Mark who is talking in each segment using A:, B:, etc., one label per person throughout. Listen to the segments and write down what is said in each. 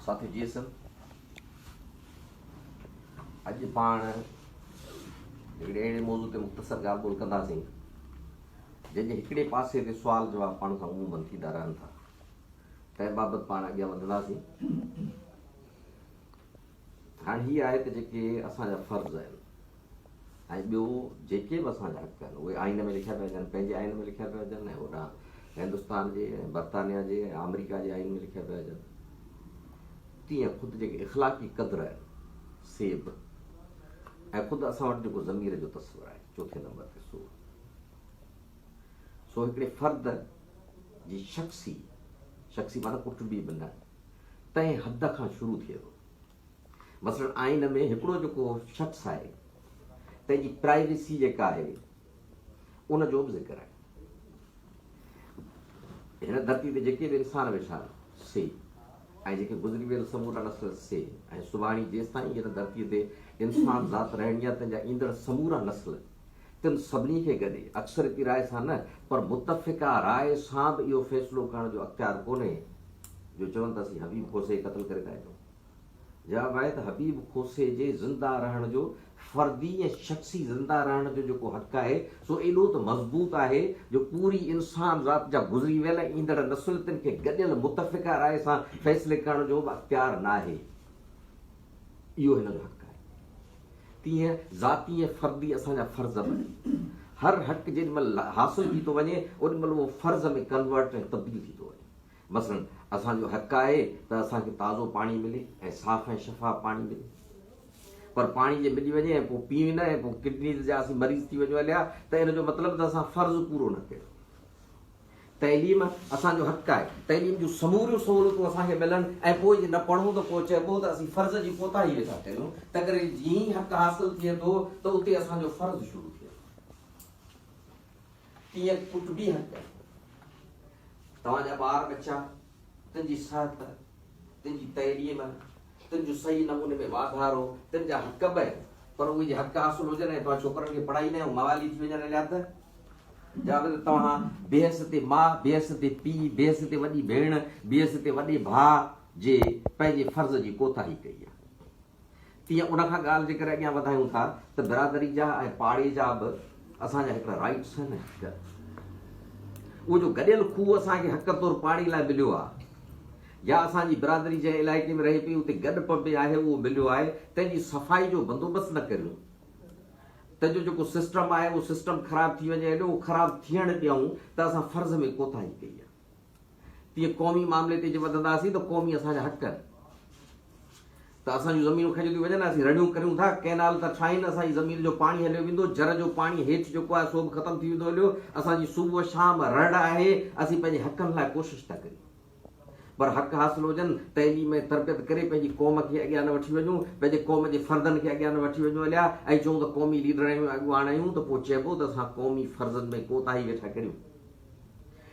A: ساٿيو جي سر اڄ پاڻ هڪڙي اهڙي موضوع تي مختصر ڳالهه ٻولهه ڪنداسين جنهن جي هڪڙي پاسي تي سوال جواب پاڻ سان عمومن ٿيندا رهن ٿا تنهن بابت پاڻ اڳيان وڌنداسين هاڻي هي آهي ته جيڪي اسان جا فرض آهن ۽ ٻيو جيڪي به اسان جا حق آهن اهي آئين ۾ لکيا پيا اچن پنهنجي آئين ۾ لکيا پيا اچن ۽ هوڏانهن هندستان جي ۽ برطانيا جي ۽ آمريڪا جي آئين ۾ لکيا پيا اچن تيئن خود جيڪي اخلاقي قدر آهن سي به ۽ خود اسان وٽ جيڪو ضمير جو تصور آهي چوٿين نمبر تي سو سو هڪڙي فرد جي شخصي شخصي معنی ڪٽبي به نه تنهن حد کان شروع ٿئي ٿو مثلاً آئين ۾ هڪڙو جيڪو شخص آهي تنهن جي پرائيويسي جيڪا آهي ان جو به ذڪر آهي هن ڌرتي تي جيڪي به انسان ويٺا سي ۽ جيڪي گذري ويل سمورا نسل سي ۽ سڀاڻي جيستائين هن ڌرتي تي انسان ذات رهڻي آهي تنهن جا ايندڙ سمورا نسل تن سڀني کي گڏي، اڪثريتي راء سان نه پر متفقه راء سان به اهو فيصلو ڪرڻ جو اختيار ڪونهي جو چون ته اسين حبيب کوسي کي قتل ڪري ٿا اچون. جواب آهي ته حبيب کوسي جي زنده رهڻ جو فردي ۽ شخصي زنده رهڻ جو جيڪو حق آهي سو ايڏو ته مضبوط آهي جو پوري انسان ذات جا گذري ويل ۽ ايندڙ نسل تن کي گڏيل متفقه راء سان فيصلي ڪرڻ جو به اختيار ناهي. اهو هن جو حق آهي. تيئن ذاتي ۽ فردي اسان جا فرض بڻي هر حق جيڏي مهل حاصل ٿي ٿو وڃي اوڏي مهل اهو فرض ۾ ڪنورٽ ۽ تبديل ٿي ٿو وڃي مثلا اسان جو حق آهي ته اسان کي تازو پاڻي ملي ۽ صاف ۽ شفاف پاڻي ملي پر پاڻي جي ملي وڃي ۽ پوء پيئون نه ۽ پوء ڪڊنيز جا اسين مريض ٿي وڃون هليا ته ان جو مطلب ته اسان فرض پورو نه ڪيو تعليم اسان جو حق آهي، تعليم جون سموريون سهولتون اسان کي ملن ۽ پوء جي نه پڙهون ته پوء چئبو ته اسين فرض جي ڪوتاهي ويٺا ڪريون، تنهنڪري جيئن ئي حق حاصل ٿئي ٿو ته اتي اسان جو فرض شروع ٿئي ٿو. تيئن ڪٽبي حق، توهان جا ٻار ٻچا، تنهنجي صحت، تنهنجي تعليم، تنهنجو صحيح نموني ۾ واڌارو، تنهنجا حق به پر اهي جي حق حاصل هجن ۽ توهان ڇوڪرن کي پڙهائي نه موالي ٿي وڃن اليا ته جا به ته توهان بحيثيت ماء، بحيثيت پيء، بحيثيت وڏي ڀيڻ، بحيثيت وڏي ڀاء جي پنهنجي فرض جي ڪوتاهي ڪئي آهي. تيئن ان کان ڳالهه جيڪر اڳيان وڌايون ٿا ته برادري جا ۽ پاڙي جا به اسان جا هڪڙا رائيٽس آهن ۽ حق. اهو جو گڏيل کوهه اسان کي حق طور پاڙي لاء مليو آهي يا اسان جي برادري جنهن علائقي ۾ رهي پئي اتي گڏپ ۾ آهي اهو مليو آهي تنهن جي صفائي جو بندوبست نه ڪريون ته جو جيڪو سسٽم آهي اهو سسٽم خراب ٿي وڃي اڏي اهو خراب ٿيڻ ڏيئون ته اسان فرض ۾ ڪوتاهي ڪئي آهي. تيئن قومي معاملي تي جي وڌنداسين ته قومي اسان جا حق ڪن ته اسان جون زمينون کنجيون ٿيون وڃن ۽ اسين رڙيون ڪريون ٿا ڪئنال ٿا ٺاهين اسان جي زمين جو پاڻي هليو ويندو جر جو پاڻي هيٺ جيڪو آهي سو به ختم ٿي ويندو هليو اسان جي صوبو شام رڙ آهي اسين پنهنجي حقن لاء ڪوشش ٿا ڪريون پر حق حاصل هجن تعليم ۽ تربيت ڪري پنهنجي قوم کي اڳيان نه وٺي وڃون پنهنجي قوم جي فردن کي اڳيان نه وٺي وڃون هليا ۽ چئون ته قومي ليڊر آهيون اڳواڻ آهيون ته پوء چئبو ته اسان قومي فرضن ۾ ڪوتاهي ويٺا ڪريون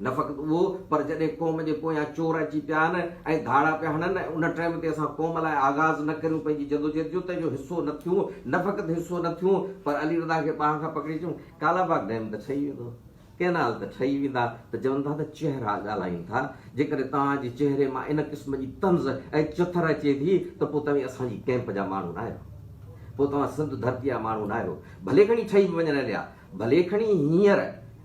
A: نه فقط اهو پر جڏهن قوم جي پويان چور اچي پيا آهن ۽ ڌاڙا پيا هڻن ۽ ان ٽائيم تي اسان قوم لاء آغاز نه ڪريون پنهنجي جدوجهد جو ته جو حصو نه ٿيون نه فقط حصو نه ٿيون پر علي رضا کي ٻانهن کان پڪڙي چيون ڪالا باغ ڊيم ته ٺهي ويندو ڪينال ته ٺهي ويندا ته چون ٿا ته چهرا ڳالهائين ٿا جيڪڏهن توهان جي چهري مان ان قسم جي طنز ۽ چٿر اچي ٿي ته پوء توهين اسان جي ڪيمپ جا ماڻهو ناهيو پوء توهان سنڌ ڌرتي جا ماڻهو ناهيو ڀلي کڻي ٺهي به وڃن عليا ڀلي کڻي هينئر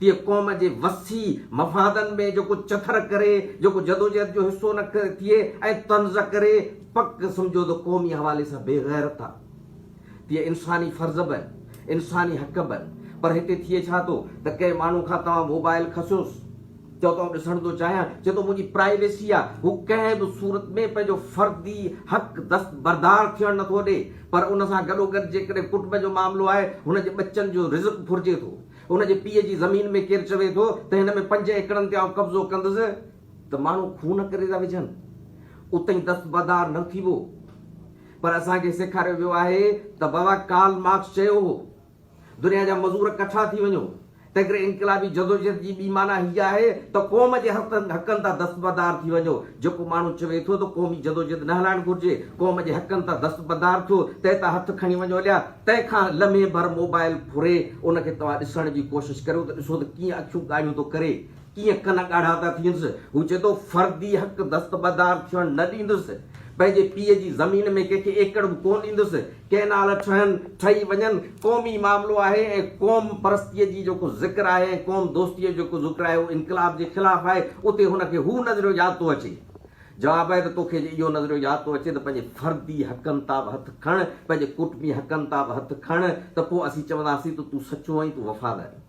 A: تيئن قوم جي وسيع مفادن ۾ جيڪو چٿر ڪري، جيڪو جدوجهد جو حصو نه ٿئي ۽ طنز ڪري، پڪ سمجهو ته قومي حوالي سان بي غيرت آ. تيئن انساني فرض به آهن، انساني حق به آهن. پر هتي ٿئي ڇا ٿو ته ڪنهن ماڻهو کان توهان موبائيل کسيوس، چئو ته آئون ڏسڻ ٿو چاهيان، چئي ٿو منهنجي پرائيويسي آ. هو ڪنهن به صورت ۾ پنهنجو فردي حق دستبردار ٿيڻ نه ٿو ڏي. پر ان سان گڏوگڏ جيڪڏهن ڪٽنب جو معاملو آهي، هن جي ٻچن جو رزق ڦرجي ٿو. هن جي پيء جي زمين ۾ ڪير چوي ٿو ته هن ۾ پنج ايڪڙن تي آئون قبضو ڪندس ته ماڻهو خون ڪري ٿا وجهن. اتهين دستبردار نه ٿيبو. پر اسان کي سيکاريو ويو آهي ته بابا ڪارل مارڪس چيو هو، دنيا جا مزور ڪٺا ٿي وڃو. تنهنڪري انقلابي جدوجهد جي ٻي معنيٰ هيء آهي ته قوم جي حقن تان دستبردار ٿي وڃو. جيڪو ماڻهو چوي ٿو ته قومي جدوجهد نه هلائڻ گهرجي، قوم جي حقن تان دستبردار ٿيو، تنهن تان هٿ کڻي وڃو اليا. تنهن کان لمحي ڀر موبائل گهري ان کي توهان ڏسڻ جي ڪوشش ڪريو ته ڏسو ته ڪيئن اکيون ڳاڙهيون ٿو ڪري، ڪيئن ڪن ڳاڙها ٿا ٿينس. هو چئي ٿو، فردي حق دستبردار ٿيڻ نه ڏيندس. پنهنجي پيء جي زمين ۾ ڪنهن کي ايڪڙ به ڪونه ڏيندس. ڪئنال ٺهن، ٺهي وڃن، قومي معاملو آهي ۽ قوم پرستيء جي جيڪو ذڪر آهي ۽ قوم دوستيء جو جيڪو ذڪر آهي اهو انقلاب جي خلاف آهي. اتي هن کي هو نظريو ياد ٿو اچي جواب آهي ته توکي جي اهو نظريو ياد ٿو اچي ته پنهنجي فردي حقن تان به هٿ کڻ، پنهنجي ڪوٽمي حقن تان به هٿ کڻ ته پوء اسين چونداسين ته تون سچو ۽ تون وفادارين.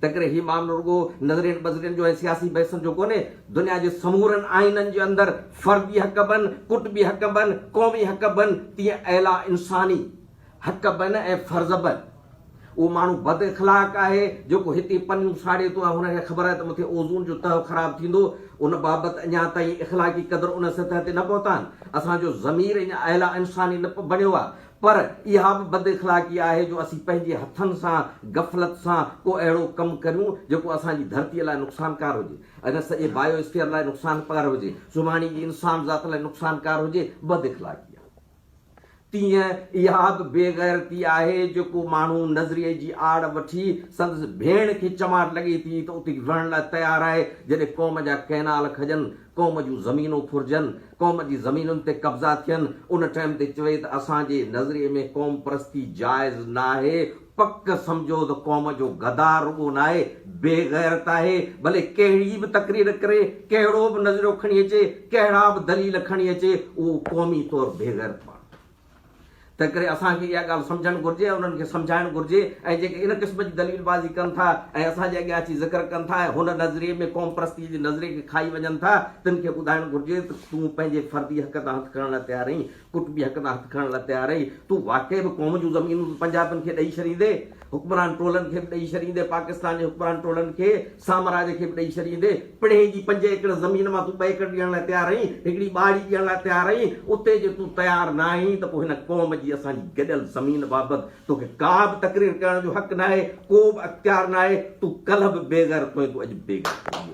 A: تنهنڪري هي معاملو رڳو نظرين ٻظرين جو ۽ سياسي بحثن جو ڪونهي، دنيا جي سمورن آئينن جي اندر فردي حق بنهه، ڪوٽمي حق بنهه، قومي حق بنهه تيئن اعليٰ انساني، حق بنه ۽ فرض بنه. اهو ماڻهو بد اخلاق آهي، جيڪو هتي پنيون ساڙي ٿو ۽ هن کي خبر آهي ته مٿي اوزون جو تهه خراب ٿيندو. ان بابت اڃا تائين اخلاقي قدر ان سطح تي نه پهتا آهن. اسان جو ضمير اڃا اعليٰ انساني نه بڻيو آهي. پر اها به بد اخلاقي آهي جو اسين پنهنجي هٿن سان غفلت سان ڪو اهڙو ڪم ڪريون، جيڪو اسان جي ڌرتيء لاء نقصانڪار هجي. اگر سڄي بائيو اسفيئر لاء نقصانڪار هجي، سڀاڻي جي انسان ذات لاء نقصانڪار هجي، بد اخلاقي آهي. تيئن اها به بي غيرتي آهي جو ڪو ماڻهو نظريي جي آڙ وٺي سندس ڀيڻ کي چماٽ لڳي ٿي ته اتي رهڻ لاء تيار آهي جڏهن قوم جا ڪئنال کڄن، قوم جون زمينون ڦرجن، قوم جي زمينن تي قبضا ٿين ان ٽئم تي چوي ته اسان جي نظريي ۾ قومپرستي جائز ناهي پڪ سمجهو ته قوم جو غدار رڳو ناهي بي غيرت آهي ڀلي ڪهڙي به تقرير ڪري ڪهڙو به نظريو کڻي اچي ڪهڙا به دليل کڻي اچي اهو قومي طور بي غيرت ماڻهو آهي تنهن ڪري اسان کي اها ڳالهه سمجهڻ گهرجي ۽ انهن کي سمجهائڻ گهرجي ۽ جيڪي ان قسم جي دليل بازي ڪن ٿا ۽ اسان جي اڳيان اچي ذڪر ڪن ٿا ۽ هن نظريي ۾ قوم پرستي جي نظريي کي کائي وڃن ٿا تن کي ٻڌائڻ گهرجي ته تون پنهنجي فردي حق تان هٿ کڻڻ لاء تيار آهين قطبي حق تان هٿ کڻڻ لاء تيار آهي، تون واقعي به قوم جون زمينون ته پنجابين کي ڏئي ڇڏيندين، حڪمران ٽولن کي به ڏئي ڇڏيندين، پاڪستان جي حڪمران ٽولن کي، سامراج کي به ڏئي ڇڏيندين، پڻهين جي پنج ايڪڙ زمين مان تون ٻه ايڪڙ ڏيڻ لاء تيار آهين، هڪڙي ٻهاڙي ڏيڻ لاء تيار آهين، اتي جي تون تيار نه آهين ته پوء هن قوم جي اسان جي گڏيل زمين بابت توکي ڪا به تقرير ڪرڻ جو حق ناهي، ڪو به اختيار ناهي، تون ڪلهه به بيغيرت هئين، تون اڄ به بيغيرت آهين.